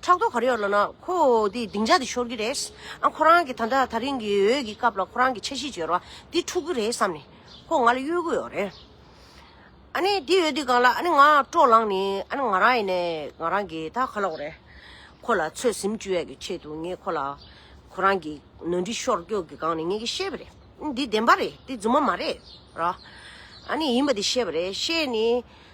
ཕྲག་དོག་གར་ཡོད་ལབ་ན་ཁོ་དེ་སྡིངས་ཆ་དེ་ཤོར་གི་རེད། ཁོ་རང་གིས་ད་ལྟ་ད་རིང་གི་འོས་ཀྱི་སྐབས་ལ་ཁོ་རང་གི་འཆར་གཞི་བརྗོད་རོགས་འདི་འཁྲུག་གི་རེད་བསམ་ནས་ཁོ་ང་ལ་གཡོལ་གི་ཡོད་རེད། ཨ་ནི་དེ་ཡོད་དུས་གང་ལ་ཨ་ནི་ང་སྤྲོ་ལངས་ནས་ཨ་ནི་ང་རང་ཡིན་ནས་ང་རང་གི་ད་ག་ལ་འོ་རེད། ཁོ་ལ་ཚོད་ཟིམ་བཅུ་ཡས་ཀྱི་ཆེད་དུ་ངས་ཁོ་ལ་ཁོ་རང་གི་ནོར་འཁྲུལ་ཤོར་སྐྱོ་གི་སྒང་ནས་ངས་ཀྱི་བཤད་པ་རེད་འདི་བདེན་པ་རེད་འདི་རྫུན་མ་མ་རེད་ར། ཨ་ནི་ཡིན་པ་དེ་བཤད་པ་རེད་བཤད་ནས།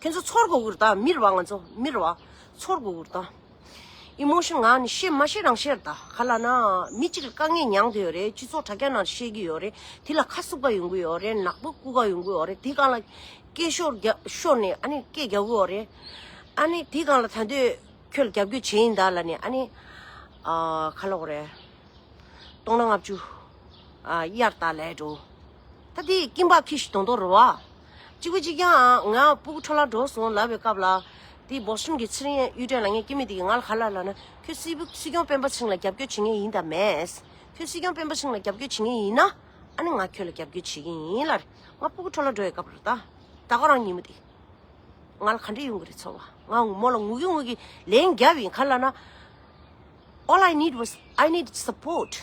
ཁྱེད་ཚོ་ཚོར་གོ་གུར་དང་མིར་བ་ང་ཚོ་མིར་བ་ཚོར་གོ་གུར་དང། Emotion ང་ནི་ཤེས་མ་ཤེས་རང་ཤེར་ད་ག་ལ་ན་མི་གཅིག་ལ་དཀའ་ངལ་མྱངས་དུས་ཡོད་རེད་སྤྱི་ཚོགས་དྲ་རྒྱ་ནང་བཤད་ཀྱི་ཡོད་རེད་དེ་ལ་ཁ་སུབ་ཀ་ཡོང་གི་ཡོད་རེད་ནག་པོ་སྐུ་ཀ་ཡོང་གི་ཡོད་རེད་དེ་གང་ལ་སྐད་ཤོར་རྒྱ་ཤོར་ནས་ཨ་ནི་སྐད་རྒྱག་གི་ཡོད་རེད་ཨ་ནི་དེ་གང་ལ་ད་འདོད་ཁྱོད་ལ་རྒྱབ་སྐྱོད་བྱེད་ཡིན་ད་ལ་ནས་ཨ་ནི་ཨ་ག་ལ་འོ་རེད་སྟོང་ན་ལྔ་བཅུ་ཨ་དབྱར་ད་ལས་འགྲོ་ད་དེ་ཀིམ་པག་ཁིས་དོང་དོ་རུ་བ། གཅིག་པུ་གཅིག་ཀྱང་ང་སྤུ་གུ་འཕྲོ་བརླག་འགྲོ་སོང་ལབ་པའི་སྐབས་ལ། དེའི་བོགས་གསུམ་གྱི་ཚེ་རིང་གཡུ་སྒྲོན་ལ་ངས་སྐྱེ་མེད་དེ་གིས་ང་ལ་ག་ལ་ལ་ན་ཁྱོད་སྲིད་པུ་སྲིད་སྐྱོང་སྤེན་པ་ཚིང་ལ་རྒྱབ་སྐྱོར་བྱེད་ངེས་ཡིན་དང་མེད། ཁྱོད་སྲིད་སྐྱོང་སྤེན་པ་ཚིང་ལ་རྒྱབ་སྐྱོར་བྱེད་ངེས་ཡིན་ན། ཨ་ནི་ང་ཁྱོད་ལ་རྒྱབ་སྐྱོར་བྱེད་ཀྱིན་ཡིན་ལར་ང་སྤུ་གུ་འཕྲོ་བརླག་འགྲོ་བའི་སྐབས་ལ་ད། ད་ཁོ་རང་ཉིན་མོ་དེ། ང་ལ་ག་འདྲའི་ཡོང་གི་རེད་ཚོར་བ་ང་ངུ་མོ་ལ་ངུ་གི་ངུ་གི་ལན་བརྒྱབ་ཡིན་ག་ལ་ན། All I need was I need support།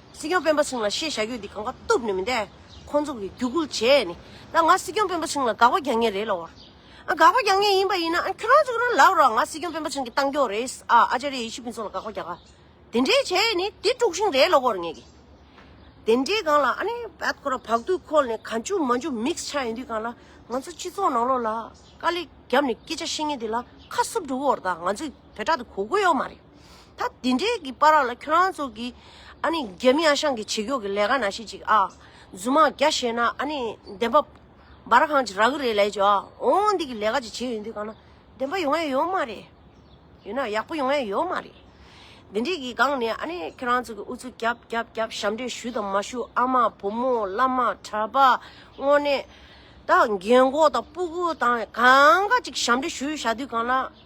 སྲིད་སྐྱོང་སྤེན་པ་སིང་ལ་ཤེས་བྱ་རྒྱུ་འདི་གང་ག་གཏུབ་ནི་མི་འདའི། ཁོང་ཚོ་གིས་རྒྱུགས་ཁུལ་བྱས་ནི། ད་ང་སྲིད་སྐྱོང་སྤེན་པ་སིང་ལ་དགག་པ་རྒྱག་ངེས་རེད་ལ་འོ། ཨ་དགག་པ་རྒྱག་ངེས་ཡིན་པ་ཡིན་ན་ཨ་ཁྱོད་རང་ཚོ་ཁྱོད་རང་ལབ་རོགས་ང་སྲིད་སྐྱོང་སྤེན་པ་སིང་གི་གཏང་མགྱོགས་རེད་ཨ་ཨ་ཅཱ་རེ་ཡེ་ཤི་ཕིན་ཚོ་ལ་དགག་པ་རྒྱག་ག། དེ་འདྲས་བྱས་ནི་དེ་དཀྲུགས་ཤིང་རེད་ལ་འོར་ངེས་གི། དེ་འདྲས་གང་ལ་ཨ་ནི་བད་ཁོ་ར་བག་དུས་ཁོལ་ནི་ག་འཇུག་མ་འཇུག་མིག་ཆ་ཡིན་དུས་གང་ལ་ང་ཚོ་སྤྱི་ཚོགས་ནང་ལོག་ལ་དཀའ་ལས་རྒྱབ་ནི་སྐད་ཆ་བཤད་ངེས་འདི་ལ་ཁ་སུབ་འགྲོ་བོར་ད་ང་ཚོས་བད་ཁྲག་དེ་གོ་དགོས་ཡོག་མ་རེད། ད་དེ་འདྲའི་གི་པ་ར་ལ་ཁྱོད་རང་ཚོ་གི། ཨ་ནི་རྒྱ་མི་ཨ་ཞང་གི་བྱེད་རྒྱོག་གི་ལས་ཀ་ན་ཤེས་ཅིག་ཨ། རྫུན་མ་རྒྱ་བཤད་ན་ཨ་ནི་བདེན་པ། འབའ་ར་གང་ཅི་རག་གི་རེད་ལས་ཅོ་ཨ། འོ་འདི་གི་ལས་ཀ་ཅིག་བྱེད་ཡོང་དུས་གང་ན། བདེན་པ་ཡོང་ཨེ་ཡོང་མ་རེད། ཡོད་ན་ཡག་པོ་ཡོང་ཨེ་ཡོང་མ་རེད། དེ་འདྲའི་གི་སྒང་ནས་ཨ་ནི་ཁྱོད་རང་ཚོ་གི་ཨུ་ཚུགས་རྒྱབ་རྒྱབ་རྒྱབ་ཞབས་འདྲེན་ཞུ་དང་མ་ཞུ་ཨ་མ་བུ་མོ་བླ་མ་གྲྭ་པ། དངོས་གནས། ད་རྒན་འཁོགས་དང་སྤུ་གུ་དང་གང་ག་ཅིག་ཞབས་འདྲེན་ཞུ་བཞག་དུས་གང་ན།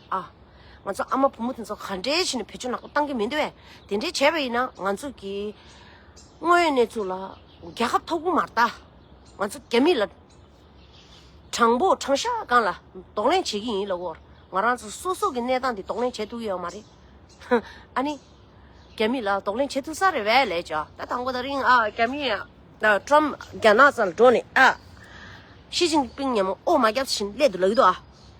ཨ། ང་ཚོ་ཨ་མ་བུ་མོ་དེ་ཚོ་ག་འདྲའི་ཞིག་ནས་བེད་སྤྱོད་ནག་པོ་བཏང་གི་མི་འདུག་བས་དེ་འདྲའི་བྱས་པ་ཡིན་ན་ང་ཚོ་གི་དངོས་ཡོད་གནས་ཚུལ་ལ་རྒྱལ་ཁབ་ཐོག་གུ་མ་ལྟ་ང་ཚོ་རྒྱ་མི་ལ་དྲང་པོ་དྲང་ཤ་སྒང་ལ་དོགས་ལན་བྱེད་ཀྱི་ཡིན་ལ་འོར་ང་རང་ཚོ་སོ་སོ་གི་གནས་སྟངས་དེ་དོགས་ལན་བྱེད་ཐུབ་ཡོད་མ་རེད་ཧཧ་ཨ་ནི་རྒྱ་མི་ལ་དོགས་ལན་བྱེད་ཐུབ་ས་རེད་བས་ལས་བྱ་ད་དང་པོ་ད་རིང་ཨ་རྒྱ་མི་ཨ་ཀྲམ་རྒྱ་ནག་ཙམ་ལ་འགྲོ་ནས་ཨ་ཤི་ཅིང་པིང་ཉམས་ཨོ་མ་རྒྱབ་བཞིན་སླད་དུ་ལག་གི་འདུག་ཨ།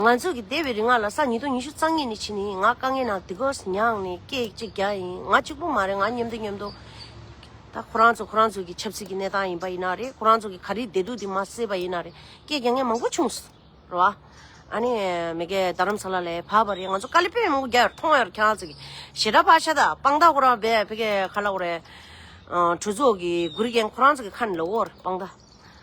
ང་ཚོ་གི་སྡེ་བའི་རིག་སྔགས་ལ་ས་ཉིས་སྟོང་ཉི་ཤུ་རྩ་གཉིས་ནི་ཕྱི་ནི་ང་དཀའ་ངལ་ནང་དི་གོ་ས་མྱངས་ནི་སྐད་ཅིག་རྒྱ་ཡིན་ང་གཅིག་པུ་མ་རེད་ང་མཉམ་འདུག་མཉམ་འདུག་ད་ཁོ་རང་ཚོ་ཁོ་རང་ཚོ་གི་ཆབ་སྲིད་ཀྱི་གནས་སྟངས་ཡིན་པ་ཡིན་ན་རེད་ཁོ་རང་ཚོ་གི་ག་རེ་བསྡད་འདུག་དེ་མ་གསལ་བ་ཡིན་ན་རེད་སྐད་རྒྱ་ངལ་མང་པོ་བྱུང་སོང་རེད་བ། ཨ་ནི་མི་གེ་རྡ་རམ་ས་ལ་ལས་བབས་པ་རེད་ང་ཚོ་ཀ་ལི་པེ་མང་པོ་རྒྱ་ཡོར་ཐོང་ཡོར་ཁྱེད་རང་ཚོ་གི་ཞེ་དྲག་བ་ཤ་ད་དཔང་རྟགས་ཁོ་རང་བེ་བྷེ་གེ་ཁ་ལ་ཁོ་རེ། གྲོས་ཚོགས་ཀྱི་གུ་རི་རྒན་ཁོ་རང་ཚོ་གི་ཁ་ནི་ལོ་བོར་དཔང་རྟགས།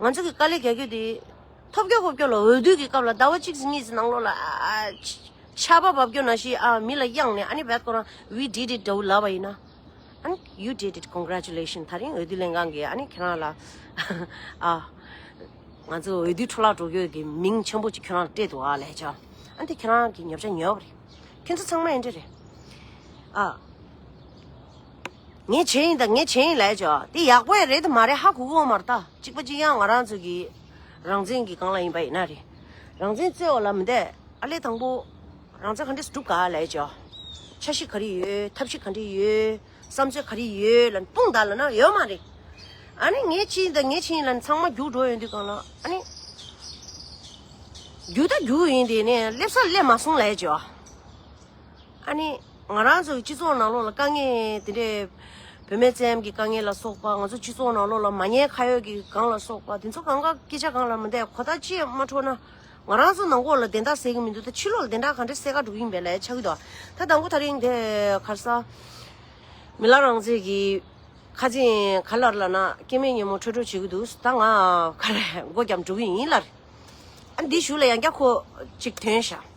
ང་ཚོ་གི་དཀའ་ལས་རྒྱག་རྒྱུ་དེ། ཐོབ་སྐྱོ་ཁོབ་སྐྱོ་ལ་འོས་བསྡུ་གི་སྐབས་ལ་ཟླ་བ་གཅིག་གཉིས་ཀྱི་ནང་ལོགས་ལ། ཆར་པ་འབབ་རྒྱུ་ན་ཞིག་ཨ་མི་ལ་དབྱངས་ནས་ཨ་ནི་བད་ཀོ་རང we did it འདྲ་བོ་ལབ་པ་ཡིན་ན། ཨ་ནི you did it congratulations ད་རིང་འོས་བསྡུ་ལྷན་ཁང་གིས་ཨ་ནི་ཁྱེད་རང་ལ། ཨ། ང་ཚོ་འོས་བསྡུ་འཕྲོ་བརླག་འགྲོ་རྒྱུ་གི་མིང་ཆེན་པོ་གཅིག་ཁྱོད་རང་ལ་སྤྲད་འདུག་ཨ་ལས་ཀྱང། ཨ་དེ་ཁྱེད་རང་གི་ཉོབ་ཆ་ཉོས་པ་རེད། ཁྱོད་ཚོ་ཚང་མ་ཨེ་འདྲ་རེད། ཨ། ངས་བྱས་ཡིན་ད་ངས་བྱས་ཡིན་ལས་བྱ་འདི་ཡག་པོ་ཡ་རེད་དུ་མ་རེད་ཧ་གོ་གོ་མ་རེད་ད་གཅིག་པ་གཅིག་ཡང་ང་རང་ཚོ་གི་རང་བཙན་གྱི་སྒང་ལ་ཡིན་པ་ཡིན་ན་རེད་རང་བཙན་རྩོད་བ་ལ་མི་འདས་ཨ་ལས་དང་པོ་རང་བཙན་ག་འདྲས་སུ་སྒྲུབ་ག་ལས་བྱ་ཆ་ཤིག་ག་རེ་ཡོད་ཐབས་ཤིག་ག་འདྲས་ཡོད་བསམ་ཚོད་ག་རེ་ཡོད་ལ་དཔུང་དག་ལ་ན་ཡོད་མ་རེད་ཨ་ནི་ངས་བྱས་ཡིན་ད་ངས་བྱས་ཡིན་ལ་ཚང་མ་རྒྱུགས་འགྲོ་ཡོང་དུས་གང་ལ་ཨ་ནི་རྒྱུགས་ད་རྒྱུགས་ཡིན་དེ་ནས་སླེབས་ས་སླེབས་མ་སོང་ལས་བྱ། ཨ་ནི། ང་རང་ཚོའི་སྤྱི་ཚོགས་ནང་ལོགས་ལ་དཀའ་ངལ་དེ་འདྲས། བུད་མེད་བཙན་གྱི་དཀའ་ངལ་ལ་སོགས་པ་ང་ཚོ་སྤྱི་ཚོགས་ནང་ལོགས་ལ་མ་ཉེས་ཁ་ཡོད་ཀྱི་སྒང་ལ་སོགས་པ་དེ་ཚོ་གང་གཱ་སྐད་ཆ་གང་ལ་མི་བསྡད་གོ་བརྡ་ཅི་ཡང་མ་འཕྲོ་ན། ང་རང་ཚོ་ནང་སྐོར་ལ་བདེན་རྟགས་གསལ་གྱི་མི་འདུག་ད་ཕྱི་ལོགས་ལ་བདེན་རྟགས་གང་འདྲས་གསལ་ག་འགྲོ་གི་ཡིན་པའི་ལས་ཆགས་ཀྱི་འདུག་ད་དང་པོ་ད་རིང་དེ་གར་ས། མི་ལ་རང་བཙན་གྱི། ཁ་འཛིན་ག་ལར་ལ་ན་སྐྱེ་མེད་ཉིན་མོ་ཁྲོས་ཁྲོས་བྱེད་ཀྱི་འདུག་ད་ང་ག་རེ་མགོ་བརྒྱབ་འགྲོ་གི་ཡིན་ལར། ཨ་འདི་ཞུ་ལ་ཡང་བསྐྱར་ཁོ་ཅིག་དོན་བྱ།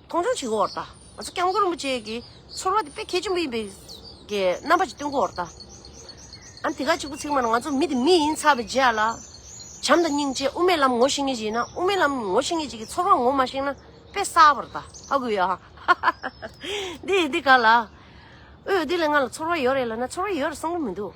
མཐོང་ཆུང་བྱེད་དགོས་བར་དང། ང་ཚོ་སྐྱབས་མགོན་རིན་པོ་ཆེ་གི་ཚོར་བ་དེ་དཔེ་གལ་ཆེན་པོ་ཡིན་པའི་རྣམ་པ་ཞིག་སྟོན་དགོས་བར་དང། ཨ་ནི་དེ་ག་གཅིག་པུ་ཚིག་མ་ན་ང་ཚོ་མི་དེ་མི་ཡིན་ཚར་བའི་རྗེས་ལ། བྱམས་དང་སྙིང་རྗེ་དབུ་མའི་ལམ་ངོ་ཤེས་ངེས་ཅིག་ཡིན་ན་དབུ་མའི་ལམ་ངོ་ཤེས་ངེས་ཅིག་གི་ཚོར་བ་ངོ་མ་ཤེས་ན་དཔེ་གསར་བར་དང་ཨ་གུ་ཡ། འདི་ཡི་འདི་ག་ལ། ཨོའོ་འདི་ལས་ང་ལ་ཚོར་བ་ཡོད་རེད་ལབ་ན་ཚོར་བ་ཡོད་རེད་བསམ་གྱི་མི་འདུག།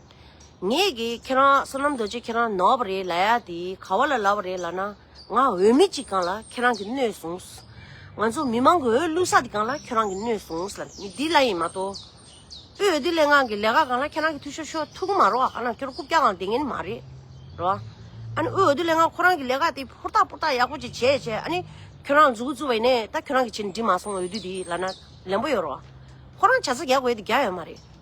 ངེད་ཀྱིས་ཁྱེད་རང་བསོད་ནམས་རྡོ་རྗེ་ཁྱེད་རང་ནོར་བ་རེད་ལ་ཡ་དེ་ག་བ་ལ་ལབ་པ་རེད་ལ་ན་ང་འོས་མི་གཅིག་གང་ལ་ཁྱེད་རང་གིས་གནོད་བཟུང། ང་ཚོ་མི་མང་གི་འོས་བླུག་ས་དེ་གང་ལ་ཁྱེད་རང་གིས་གནོད་བཟུང་ལ་མི་དེ་ལ་ཡིན་མ་གཏོགས། དབུས་འོས་བསྡུ་ལས་ཁང་གི་ལས་ཀ་གང་ལ་ཁྱེད་རང་གིས་ཐུགས་ཤོར་ཤོར་ཐུགས་མ་རོགས་ཨ་ན་ཁྱོད་རང་རྐུབ་བཀྱག་གང་དེ་ངན་མ་རེད་རོ། ཨ་ནི་དབུས་འོས་བསྡུ་ལས་ཁང་ཁོ་རང་གི་ལས་ཀ་དེ་ཧུར་ཐག་པུར་ཐག་ཡག་པོ་ཅིག་བྱས་བྱས་ཨ་ནི་ཁྱོད་རང་འཛུགས་འཛུགས་བས་ནས་ད་ཁྱོད་རང་གིས་བྱས་ནས་འགྲིག་མ་སོང་འོས་བསྡུ་དེ་ལ་ན་ལན་པོ་ཡོད་རོ། ཁོ་རང་བྱ་ས་རྒྱག་དགོས་དེ་རྒྱག་ཡོད་མ་རེད།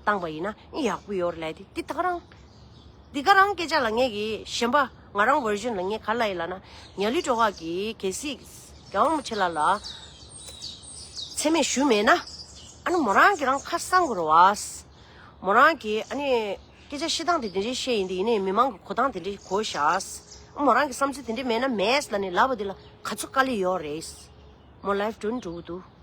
བཏང་བ་ཡིན་ན་ཡག་པོ་ཡོད་ལད་དེ་ད་ག་རང། འདི་ག་རང་སྐད་ཆ་ལ་ངས་ཀྱི་གཞན་པ་ང་རང version ལ་ངས་ག་ལ་ཡིན་ལ་ན་ཉག་ལི་གྲོགས་ཀྱིས་གལ་སྲིད་རྒྱ་མོ་ཆེ་ལ་ལ་མཚན་སྨད་ཞུས་མེད་ན་ཨ་ནི་མོ་རང་གི་རང་ཁ་གསང་དགོས་རོ་ཨ། མོ་རང་གི་ཨ་ནི་སྐད་ཆ་བཤད་སྟངས་དེ་དེ་འདྲའི་བཤད་ཡིན་དེ་ཡིན་ནའི་མི་མང་གི་གོ་སྟངས་དེ་འདྲའི་གོ་བཞག་ཨ། མོ་རང་གི་བསམ་ཚུལ་དེ་འདྲའི་མེད་ན་མེད་ལ་ནི་ལབ་པ་དེ་ལ་ག་ཚོད་དཀའ་ལས་ཡོད་རེད། མོ life དྲུང་འགྲོ་གི་འདུག།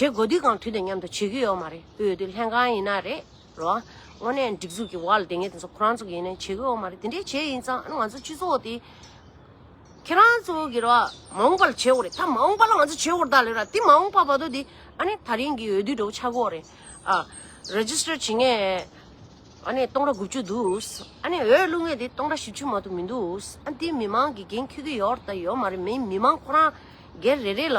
བྱེད་དགོས་དུས་གང་དུས་དང་མཉམ་དུ་བྱེད་ཀྱི་ཡོད་མ་རེད་དབུས་འོས་བསྡུ་ལྷན་ཁང་ཡིན་ན་རེད་རོ། དངོས་གནས་སྒྲིག་འཛུགས་ཀྱི་བར་ལ་དེ་ངས་དེ་ཚོ་ཁོ་རང་ཚོ་ཡིན་ན་བྱེད་ཀྱི་ཡོད་མ་རེད་དེ་འདྲས་བྱས་ཡིན་ཙང་ང་ཚོ་སྤྱི་ཚོགས་དེ། ཁྱེད་རང་ཚོ་གི་རོ་མ་འོངས་པ་ལ་བྱེད་འོག་རེད་ད་མ་འོངས་པ་ལ་ང་ཚོ་བྱེད་འོག་ད་ལོས་ར་དེ་མ་འོངས་པ་བར་དོ་དེ་ཨ་ནི་ད་རིང་གི་འོས་བསྡུའི་འགྲོ་བ་ཆགས་འགོ་རེད། ཨ Register བྱེད་ངེས་ཨ་ནི་སྟོང་ར་དགུ་བཅུ་འདུག་ཨ་ནི་འོས་བླུག་ངེས་དེ་སྟོང་ར་བཞི་བཅུ་མ་ཏུ་མི་འདུག་ཨ་ནི་དེ་མི་མང་གི་འགན་ཁུར་གྱི་ཡོད་ར་ད་ཡོད་མ་རེད་མི་མི་མང་ཁོ་རང་སྒེར་རེ་རེ་ལ་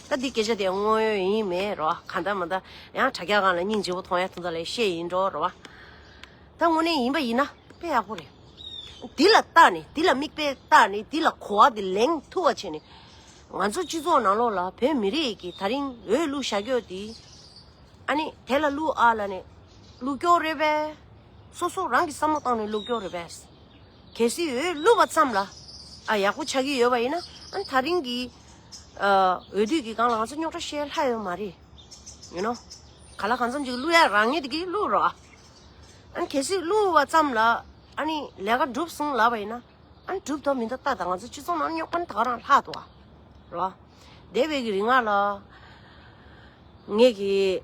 ད་འདི་སྐད་ཆ་དེ་དངོས་ཡོད་ཡིན་མེད་རེད་བ། གང་ལྟར་མ་ལྟར་ཡང་དྲ་རྒྱ་གང་ལ་སྙིང་རྗེ་བོ་མཐོང་ཡ་ཐུང་ཐ་ལས་ཤེས་ཡིན་འགྲོ་རེད་བ། ད་དངོས་གནས་ཡིན་པ་ཡིན་ན་དཔེ་ཡག་པོ་རེད། འདི་ལ་བལྟ་ནས་འདི་ལ་མིག་དཔེ་བལྟ་ནས་འདི་ལ་གོ་བ་དེ་ལེན་ཐུབ་བ་བྱས་ནས། ང་ཚོ་སྤྱི་ཚོགས་ནང་ལོགས་ལ་བོད་མི་རིགས་ཀྱི་ད་རིང་འོས་བླུག་བྱ་རྒྱོ་དེ། ཨ་ནི་དེ་ལ་བླུག་ཨ་ལ་ནི་བླུག་རྒྱོ་རེད་བས། སོ་སོ་རང་གི་བསམ་བློ་བཏང་ནས་བླུག་རྒྱོ་རེད་བས། གལ་སྲིད་འོས་བླུག་བ་ཙམ་ལ་ཨ་ཡག་པོ་ཆགས་ཀྱི་ཡོད་བ་ཡིན་ན་ཨ་ནི་ད་རིང་གི། འོས་བསྡུས་ཀྱི་སྒང་ལ་ང་ཚོ་རྙོག་དྲ་བཤད་ལྷ་ཡོད་མ་རེད། ཡུ་ནོ། ག་ལ་གང་འཚམ་ཅིག་བསླུ་ཡ་རང་ཉིད་ཀྱིས་བསླུ་རོགས་ཨ། ཨ་ནི་གལ་སྲིད་བསླུ་བ་ཙམ་ལ་ཨ་ནི་ལས་ཀ་འགྲུབ་སོང་ལབ་པ་ཡིན་ན། ཨ་ནི་འགྲུབ་ཐབས་མི་འདུག་ཏག་ཏག་ང་ཚོ་སྤྱི་ཚོགས་ནང་རྙོག་པ་ནི་དག་རང་ལྷག་འདུག་ཨ། རོ། འདས་པའི་གི་རིང་ང་ལ། ངེད་ཀྱི།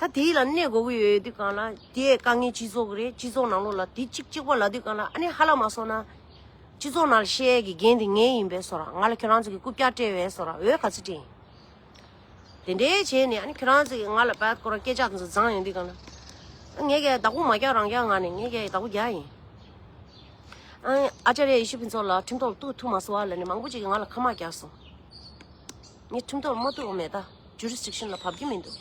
ད་དེ་ལ་གནས་དགོས་ཀྱི་ཡོད་དུས་གང་ལ་དེ་དཀའ་ངལ་སྤྱི་ཚོགས་རེད་སྤྱི་ཚོགས་ནང་ལོགས་ལ་དེ་གཅིག་གཅིག་པ་ལ་དུས་གང་ལ་ཨ་ནེ་ཧ་ལ་མ་སོང་ན། སྤྱི་ཚོགས་ནང་ལ་ཤེས་ཡས་ཀྱི་འགན་དེ་ངའི་ཡིན་པས་སོ་ར་ང་ལ་ཁྱོད་རང་ཚོ་གི་རྐུབ་བཀྱག་སྤྲད་བས་སོ་ར་འོས་ག་ཚོད་སྤྲད། དེ་འདྲའི་བྱས་ནས་ཨ་ནེ་ཁྱོད་རང་ཚོ་གི་ང་ལ་བལ་སྐོར་སྐད་ཆ་ཚོ་བརྫངས་ཡོང་དུས་གང་ལ། ངས་ཀྱི་བདག་པོ་མ་བཀྱག་རང་བཀྱག་ངང་ནས་ངས་ཀྱི་བདག་པོ་བརྒྱག་ཡིན། ཨ་ཨ་ཅཱ་རེ་ཡེ་ཤུ་ཕུན་ཚོགས་ལགས་ཁྲིམས་ཐོག་ལ་གཏུགས་ཐུབ་མ་སོང་བ་ལ་ནི་མང་པོ་ཅིག་གིས་ང་ལ་ཁ་དམག་བརྒྱག་སོང། ངས་ཁྲིམས་ཐོག་མ་ཐུག་མེད་ད Jurisdiction ལ་བབ་ཀྱི་མི་འདུག།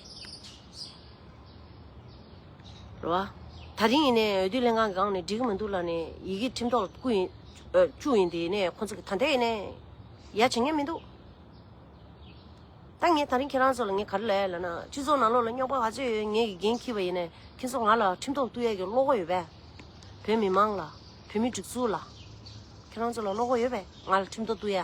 རེད་བ། ད་རིང་ཡིན་ནའི་འོས་བསྡུ་ལྷན་ཁང་གི་སྒང་ནས་འགྲིག་གི་མི་འདུག་ལ་ནས་ཡི་གེ་ཁྲིམས་ཐོག་ལ་བསྐུར་ཡིན། བཅུག་ཡིན་དེ་ནས་ཁོང་ཚོ་གི་ད་འད་ཡིན་ནའི་ཡ་བྱེད་ངེས་མི་འདུག། ད་ངས་ད་རིང་ཁྱེད་རང་ཚོ་ལ་ངས་ག་རེ་ལས་ལ་ན་སྤྱི་ཚོགས་ནང་ལོག་ལ་རྙོག་པ་ག་ཚོད་ཡོད་ངས་ཀྱི་འགན་འཁྱིར་བ་ཡིན་ནའི་ཁྱེད་ཚོ་ང་ལ་ཁྲིམས་ཐོག་བསྐུར་ཡ་གི་བློ་ཁོག་ཡོད་པས། བོད་མི་མང་ལ། བོད་མི་སྒྲིག་འཛུགས་ལ། ཁྱེད་རང་ཚོ་ལ་བློ་ཁོག་ཡོད་པས་ང་ལ་ཁྲིམས་ཐོག་བསྐུར་ཡ།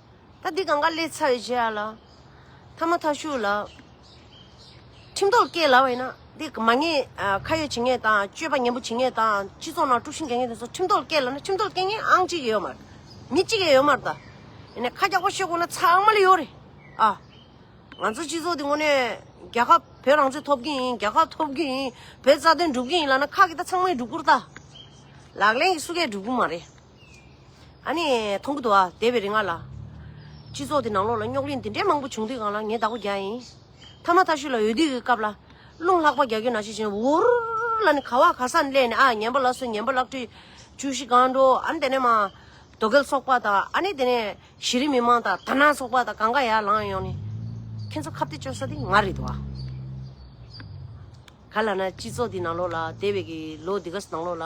ད་འདི་གང་ག་ལེ་ཚ་ཡོད་བྱས་ཡ་ལ། ཐ་མ་ཐ་ཤུག་ལ། ཁྲིམས་ཐོག་སྐྱེས་ལ་བ་ཡིན་ན། འདི་མ་ངེས་ཁ་ཡོད་བྱེད་ངེས་དང་སྤྱོད་པ་ངན་པོ་བྱེད་ངེས་དང་སྤྱི་ཚོགས་ནང་དཀྲུག་ཤིང་རྒྱག་ངེས་དེ་ཚོ་ཁྲིམས་ཐོག་སྐྱེས་ལ་ན་ཁྲིམས་ཐོག་སྐྱེས་ངེས་ཨང་གཅིག་ཡོད་མ་རེད། མི་གཅིག་ཡང་ཡོད་མ་རེད་ད། ཡིན་ནས་ཁ་རྒྱག་པ་བཤད་དགོས་ན་ཚ་ཨང་མ་ལེ་ཡོད་རེད་ཨ། ང་ཚོ་སྤྱི་ཚོགས་འདི་ངོ་ནས་རྒྱལ་ཁབ་བོད་རང་བཙན་ཐོབ་གིན་ཡིན་རྒྱལ་ཁབ་ཐོབ་གིན་ཡིན་བོད་རྩ་དོན་སྒྲུབ་གིན་ཡིན་ལ་ན་ཁག་གི་ད་ཚང་མས་སྒྲུབ་དགོས་རེད་ད། ལག་ལེན་གྱི་སུ་གས་སྒྲུབ་གིན་མ་རེད། ཨ་ནི། མཐོང་གི་འདུག་ཨ་འདས་པའི་རིག་སྔགས་ལ། སྤྱི་ཚོགས་འདི་ནང་ལོགས་ལ་རྙོག་གླེང་འདི་འདྲའི་མང་པོ་བྱུང་དུས་གང་ལ་ངའི་བདག་པོ་རྒྱ་ཡིན། ཐ་མ་ཐ་ཤུལ་ལ་འོས་བསྡུ་གི་སྐབས་ལ། རླུང་ལྷག་པ་རྒྱ་ཁྱོད་ན་ཤི་བྱས་ནས་འུར། ལ་ནི་ག་བ་ག་སར་སླེབས་ནས་ཨ་ངན་པ་ལ་སོན་ངན་པ་ལག་བྲིས། བཅུ་བཞི་སྒང་དྲོ་ཨ་ནི་དེ་ནས་མ། རྡོ་གེལ་ཚོགས་པ་དང་ཨ་ནི་དེ་ནས་གཞི་རིམ་མི་མང་དང་ཐ་ན་ཚོགས་པ་དང་གང་ག་ཡ་ལང་ཡོང་ནས། ཁྱོད་ཚོ་ཁ་བརྡའི་སྤྱོད་ས་འདི་ང་རེད་འདུག་ཨ། ག་ལ་ན་སྤྱི་ཚོགས་འདི་ནང་ལོགས་ལ་འདས་པའི་གི་ལོ་འདི་ག་ནང་ལོགས་ལ།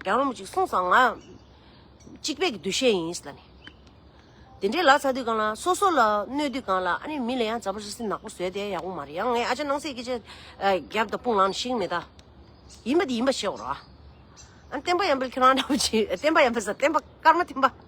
རྒྱ་རོམ་ཅིག་གསུངས་སམ་ང། གཅིག་པད་ཀྱི་འདུ་ཤེས་ཡིན་ལ་ནི། དེ་འདྲའི་ལག་ཚ་དུས་གང་ལ་སོ་སོ་ལ་གནོད་དུས་གང་ལ་ཨ་ནི་མི་ལ་ཡང་ཛབ་པོ་རི་སི་ནག་པོ་བཟོས་ཏེ་ཡག་པོ་མ་རེད་ཡང་ངས་ཨ་ཅག་སྣང་སྲིད་སྐད་ཆ་རྒྱབ་དང་དཔུང་ལངས་ནས་ཤིག་མེད་ད། ཡིན་པ་དེ་ཡིན་པ་ཤེས་བར། ཨ་ནི་བསྟན་པ་ཡང་འཕེལ་ཁྱོད་རང་འདྲ་བོ་ཅིག་བསྟན་པ་ཡང་འཕེལ་ས་བསྟན་པ་སྐར་མ་ཐིམ་པ།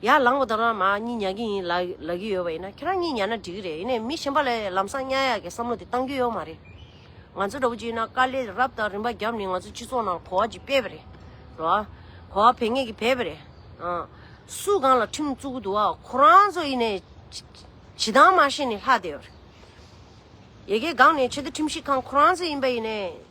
ཡར་ལངས་པ་དང་རང་མག་གཉིས་ཉལ་གྱི་ཡིན། ལབ་ཀྱི་ཡོད་པ་ཡིན་ན་ཁྱེད་རང་གཉིས་ཉལ་ན་འགྲིག་གི་རེད། ཡིན་ནའི་མི་གཞན་པ་ལ་ལམ་སང་གཉའ་ཡག་གི་བསམ་བློ་དེ་བཏང་རྒྱུ་ཡོད་མ་རེད། ང་ཚོ་འདྲ་བོ་གཅིག་ཡིན་ན་དཀའ་ལས་རབ་དང་རིམ་པ་བརྒྱབ་ནས་ང་ཚོ་སྤྱི་ཚོགས་ནང་གོ་བ་ཅིག་སྤེལ་བ་རེད། འགྲོ་བ། གོ་བ་འཕེལ་ངེས་ཀྱི་འཕེལ་བ་རེད། ཨང། སུ་གང་ལ་ཁྲིམས་བཙུགས་གི་འདུག་ཨ། ཁོ་རང་ཚོ་ཡིན་ནའི། བྱེད་སྟངས་མ་ཤེས་ནས་ལྷག་བསྡད་ཡོད་རེད། ཡེ་གེ་སྒང་ནས་ཆེད་དུ་ཁྲིམས་ཞིབ་ཁང་ཁོ་རང་ཚོ་ཡིན་པ་ཡིན་ནའི།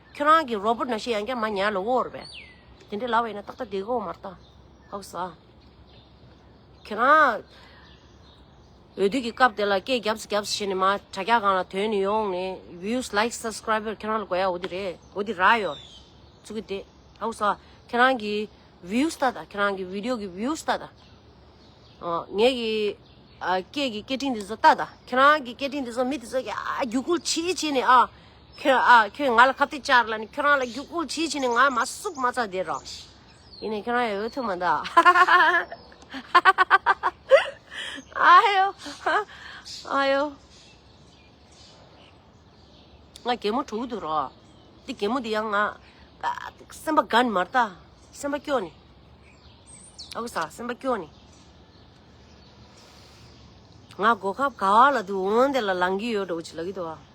ཁྱོད་རང་གི་རོ་པོ་ན་ཤི་ཡང་ཀྱང་མ་ཉལ་ལོ་བོ་རེད་པས་དེ་འདྲའི་ལ་བས་ན་ཏག་ཏག་དེ་གོ་མ་རྟ་ཨོ་ཟ། ཁྱོད་རང་འོས་བསྡུ་གི་སྐབས་དེ་ལ་སྐད་རྒྱབ་སུ་རྒྱབ་སུ་བྱས་ནས་མ་དྲ་རྒྱ་གང་ལ་དོན་ནི་ཡོང་ནས views like subscriber ཁྱོད་རང་ལ་དགོས་ཡ་འོ་དི་རེད་འོ་དི་ར་ཡོད་རེད་ཚུགས་ཀྱི་དེ་ཨོ་ཟ་ཁྱོད་རང་གི views ལྟ་ད་ཁྱོད་རང་གི video གི views ལྟ་ད་ཨོ་ངེད་ཀྱི་སྐད་ཀྱི་སྐད་ཕྲིན་དེ་ཚོ་ལྟ་ད་ཁྱོད་རང་གི་སྐད་ཕྲིན་དེ་ཚོ་མི་དེ་ཚོ་ཡ་རྒྱུག་ཁུལ་བྱེད་བྱེད་ནས་ཨ་ཁྱོད་ཨ་ཁྱོད་ང་ལ་ཁ་བཏད་ཅར་ལ་ནི་ཁྱོད་རང་ལ་རྒྱུག་ཁུལ་བྱེད་བྱེད་ནི་ང་མ་སུབ་མ་རྩ་དེ་ར་ཡིན་ནས་ཁྱོད་རང་ཡང་འོས་ཐོན་མ་འདའ་ཨ་ཧེའོ་ཨ་ཧེའོ་ང་རྒན་མོ་དྲུག་དུ་ར་དེ་རྒན་མོ་དེ་ཡང་ང་སེམས་པ་དགའ་ནི་མ་རྟ་སེམས་པ་སྐྱོ་ནི་ཨ་ཁུ་ས་སེམས་པ་སྐྱོ་ནི་ང་སྒོ་ཁབ་ག་བ་ལ་དུ་འོན་དེ་ལ་ལང་གི་ཡོད་འགྲོ་བྱེད་ལ་གི་དུ་བ།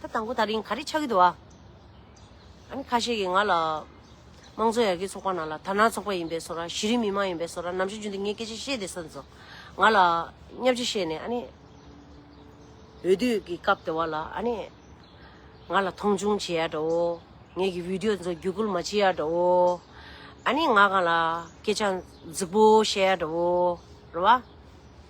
ད་དང་པོ་ད་རིང་ག་རེ་ཆགས་ཀྱི་འདུག་ཨ། ཨ་ནི་ཁ་ཤས་ཀྱིས་ང་ལ། དམངས་གཙོ་ཡར་རྒྱས་ཚོགས་པ་ནང་ལ་དར་ནག་ཚོགས་པ་ཡིན་པས་སོ་ར་གཞི་རིམ་མི་དམངས་ཡིན་པས་སོ་ར་ནམ་ཞིག་རྒྱུན་དུ་ངས་སྐད་ཆ་བཤད་དེ་སོན་ཚོ། ང་ལ། བསྙབ་བྱ་བཤད་ནས་ཨ་ནི། འོས་བསྡུས་ཀྱི་སྐབས་དེ་བ་ལ་ཨ་ནི། ང་ལ་མཐོང་ཆུང་བྱེད་ཡ་འདྲ་བོ། ངས་ཀྱི་བིད་ཡོ་ཚོ་བརྒྱུད་སྐུལ་མ་བྱེད་ཡ་འདྲ་བོ། ཨ་ནི་ང་གང་ལ་སྐད་ཆ་རྫིག་པོ་བཤད་ཡ་འདྲ་བོ། རེད་བ།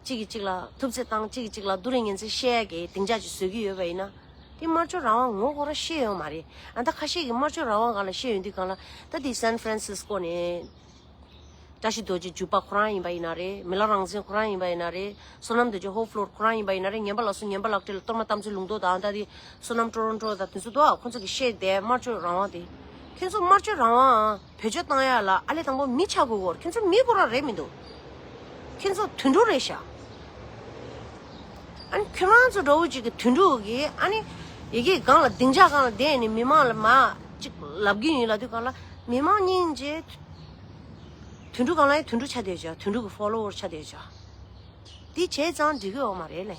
གཅིག་གིས་གཅིག་ལ་ཐུབ་ཚད་བཏང་གཅིག་གིས་གཅིག་ལ་རྡོ་རིང་ཉིན་མཚན་བཤད་ཡ་གི་སྡིངས་ཆ་ཅིག་བཟོས་ཀྱི་ཡོད་པ་ཡིན་ན། དེ་དམར་ཕྱོགས་རང་དབང་ངོ་རྒོལ་ར་ཤེས་ཡོད་མ་རེད་ཨ་མདའ་ཁ་ཤས་ཀྱིས་དམར་ཕྱོགས་རང་དབང་གང་ལ་ཤེས་ཡོད་འདི་གང་ལ་ད་དེ་སན་ཧྥི་རན་སི་སི་ཀོ་ནས་བཀྲ་ཤིས་རྡོ་རྗེ་བརྒྱུད་པ་ཁོ་རང་ཡིན་པ་ཡིན་ན་རེ་མི་ལ་རང་བཙན་ཁོ་རང་ཡིན་པ་ཡིན་ན་རེ་བསོད་ནམས་རྡོ་རྗེ་ཧོ་ཕ་ལོར་ཁོ་རང་ཡིན་པ་ཡིན་ན་རེ་ངན་པ་ལ་སོ་ངན་པ་ལག་སྤྲེལ་ལ་གཏོར་མ་གཏམ་ཚོད་ལུང་རྟོགས་དང་ཨ་མདའ་དེ་བསོད་ནམས་ཀྲོ་རོང་ཀྲོ་དང་དེ་ཚོ་འདུག་ཨ་ཁོ་ཚོ་གིས་བཤད་དེ་དམར་ཕྱོགས་རང་དབང་དེ་ཁྱོད་ཚོ་དམར་ཕྱོགས་རང་དབང་བོད་ལྗོད་བཏང་ཡག་ལ་ཨ་ལེ་དང་པོ་མི་ཆག་གུ་གོར་ཁྱོད་ཚོ་མི་གོ་ར་རེད་མི་འདུག་ཁྱོད་ཚོ་དུད་འགྲོ་རེད་ཤག་ཨ་ནི་ཁྱོད་རང་ཚོ་འདྲ་བོ་ཅིག་གི་དུད་འགྲོ་གིས་ཨ་ནི་ཡི་གེ་གང་ལ་སྡིངས་ཆ་གང་ལ་བསྡད་ནས་མི་མང་ལ་མ་ཅིག་ལབ་གིན་ཡིན་ལ་དུས་གང་ལ་མི་མང་སྙིང་རྗེ་དུད་འགྲོ་གང་ལ་ཡང་དུད་འགྲོ་ཆ་སྡད་ཅག་དུད་འགྲོ་གི་ཧྥོ་ལོ་ཝོར་ཆ་སྡད་ཅག་འདི་བྱས་ཙང་འགྲིག་གི་ཡོག་མ་རེད་ལེ།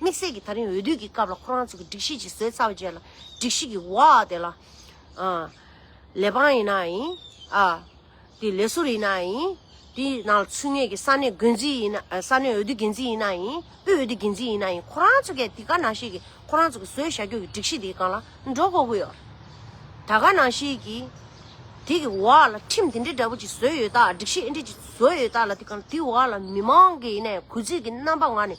དམིགས་བསལ་གྱི་ད་རིང་འོས་བསྡུ་གྱི་སྐབས་ལ་ཁོ་རང་ཚོ་གི་སྒྲིག་གཞི་ཅིག་བཟོས་ཚར་བ་རྗེས་ལ་སྒྲིག་གཞི་གི་བ་དེ་ལ། ལས་འབངས་ཡིན་ན་ཡིན། དེ་ལས་ཟུར་ཡིན་ན་ཡིན། དེ་ནང་ལ་ཚུད་ངེས་ཀྱི་ས་གནས་འགོས་འཛིན་ཡིན་ན་ས་གནས་འོས་བསྡུ་འགན་འཛིན་ཡིན་ན་ཡིན། དབུས་འོས་བསྡུ་འགན་འཛིན་ཡིན་ན་ཡིན་ཁོ་རང་ཚོ་གས་དེ་ག་ནང་བཞིན་གྱི་ཁོ་རང་ཚོ་གི་བཟོས་བཞག་རྒྱུ་གྱི་སྒྲིག་གཞི་དེ་གང་ལ་འགྲོ་དགོས་ཀྱི་ཡོད། ད་ག་ནང་བཞིན་གྱི། དེ་གི་བ་ལ་ཁྲིམས་དེ་འདྲའི་འདྲ་པོ་ཅིག་བཟོས་ཡོད་ད་སྒྲིག་གཞི་ཨེ་འདྲས་ཅིག་བཟོས་ཡོད་ད་ལ་དེ་གང་ལ་དེ་བ་ལ་མི་མང་གི་ཡིན་ན་ཡང་གུས་བརྩི་གྱི་རྣམ་པ་ང་ནས་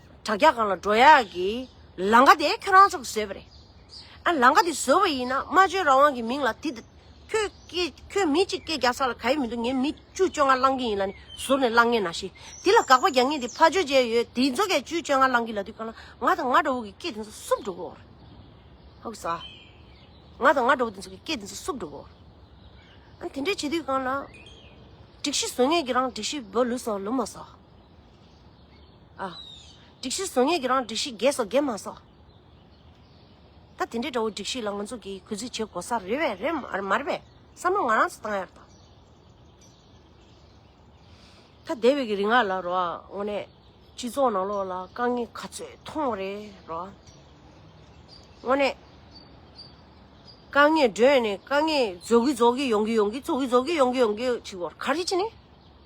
དྲ་རྒྱ་གང་ལ་འགྲོ་ཡག་གི་ལང་ཀ་དེ་ཁྱོད་རང་ཚོ་གིས་བཟོས་པ་རེད། ཨ་ལང་ཀ་དེ་བཟོས་པ་ཡིན་ན་སྨྲ་བརྗོད་རང་དབང་གི་མིང་ལ་དེ། ཁྱོད་མི་གཅིག་སྐད་རྒྱག་ས་ལ་ག་ཡེ་མི་འདུག་ངས་མི་བཅུ་བཅོ་ལྔ་བླང་གི་ཡིན་ལ་ནི་ཟུར་ནས་བླང་ངེས་ན་ཤི། དེ་ལ་དགག་པ་རྒྱག་ངེས་དེ་ཕ་ཇོ་ཇེ་ཡོད་དེ་ཚོ་གས་བཅུ་བཅོ་ལྔ་བླང་གི་ལ་དུས་གང་ལ་ང་དང་ང་འདྲ་བོ་གི་སྐད་དེ་ཚོ་སུབ་འགྲོ་གི་འོ་རེད། ང་དང་ང་འདྲ་བོ་དེ་ཚོ་གི་སྐད་དེ་ཚོ་སུབ་འགྲོ་གི་འོ་རེད། དེ་འདྲ་བྱེད་དུས་གང་ལ། སྒྲིག་གཞི་བཟོ་ངེས་ཀྱི་རང་སྒྲིག་གཞི་བོ་ལུས་སོ་ལུས་མ་སོ། ཨ། སྒྲིག་གཞིར་བཟོ་ངེས་ཀྱི་རང་སྒྲིག་གཞི་རྒྱས་སོ་རྒྱས་མ་སོ། ད་དེ་འདྲའི་འདྲ་བོ་སྒྲིག་གཞི་ལ་ང་ཚོ་གིས་གུས་བརྩི་བྱེད་དགོས་ས་རེད་བས་རེད་མ་རེད་པས་བསམ་བློ་ང་རང་ཚོ་བཏང་ཡག་ད། ད་འདས་པའི་གི་རིང་ང་ལ་རོ་ཨ་དངོས་གནས་སྤྱི་ཚོགས་ནང་ལོགས་ལ་དཀའ་ངལ་ག་ཚོད་མཐོང་བ་རེད་རོ་ཨ། དངོས་གནས། དཀའ་ངལ་སྒྲོན་ནས་དཀའ་ངལ་རྫོགས་གི་རྫོགས་གི་ཡོང་གི་ཡོང་གི་རྫོགས་གི་རྫོགས་གི་ཡོང་གི་ཡོང་གི་ཅིག་བོར་ག་རེ་ཅི་ནས།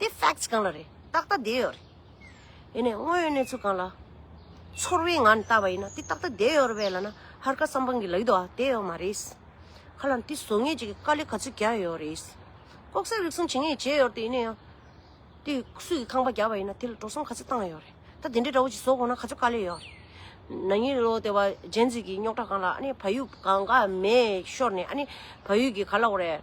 དེ facts གང་ལ་རེད་ཏག་ཏག་བསྡད་ཡོད་རེད། ཡིན་ནའི་དངོས་ཡོད་གནས་ཚུལ་གང་ལ། ཚོར་བའི་ངང་ནས་བལྟ་བ་ཡིན་ན་དེ་ཏག་ཏག་བསྡད་ཡོད་རེད་བས་ལ་ན་ཧར་ཀ་བསམ་པང་གི་ལག་ཡིད་དུ་བསྡད་ཡོད་མ་རེད། ཁ་ལ་དེ་བཟོ་ངེས་ཅིག་དཀའ་ལས་ག་ཚོད་རྒྱག་ཡོད་རེད། ལྐོག་ཟ་རིག་གསུམ་བྱེད་ངེས་བྱས་ཡོད་དེ་ཡིན་ནའི་ཡང། དེ་སུས་ཀྱི་ཁང་པ་རྒྱག་པ་ཡིན་ན་དེ་ལ་འགྲོ་སོང་ག་ཚོད་བཏང་ཡོད་རེད་ད་དེ་འདྲའི་དགྲ་བོ་ཅིག་བཟོ་དགོས་ན་ག་ཚོད་དཀའ་ལས་ཡོད་རེད། ན་ཉིན་ལོ་དེ་བ་ཇན་ཛི་གི་རྙོག་དྲ་གང་ལ་ཨ་ནི་བ་ཡུག་གང་ག་མེད་ཤོར་ནས་ཨ་ནི་བ་ཡུག་གི་ག་ལ་འོ་རེད།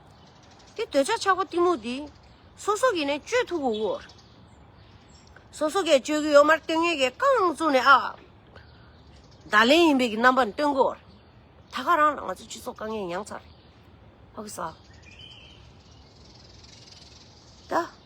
དེ་འདོད་ཆགས་ཆགས་པ་གཏི་མུག་འདི། སོ་སོ་གིས་ནི་གཅོད་ཐུབ་བོ། སོ་སོ་གས་གཅོད་གི་ཡོད་མར་སྟོན་ངེས་ཀྱི་རྐང་བཙུགས་ནས་ཨ། བརྡ་ལན་ཡིན་པའི་གི་རྣམ་པ་ནི་སྟོན་གོ། ད་ག་རང་ལ་ང་ཚོའི་སྤྱི་ཚོགས་དཀའ་ངལ་མྱངས་ཚར། ཨོ་ཀི་ས། ད།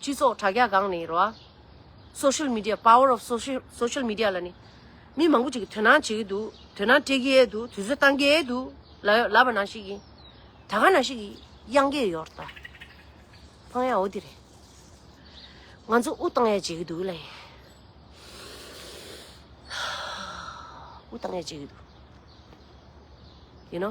སྤྱི་ཚོགས་དྲ་རྒྱ་སྒང་ནས་རོ། Social Media Power of Social Media ལ་ནི། མི་མང་པོ་ཅིག་གིས་དོན་སྣང་བྱེད་ཀྱི་འདུག་དོན་སྣང་སྤྲད་ཀྱི་འདུག་དུས་ཚོད་བཏང་གི་འདུག་ལ་ཡོད་ལབ་པ་ན་ཞིག་ཡིན། ད་ག་ན་ཞིག་གིས་གཡང་གི་ཡོད་ད། ཕང་ཡ་འོ་དེ་རེད། ང་ཚོ་དབུགས་བཏང་ཡ་བྱེད་ཀྱི་འདུག་ལ་ཡིན། དབུགས་བཏང་ཡ་བྱེད་ཀྱི་འདུག་ཡིན་ནོ།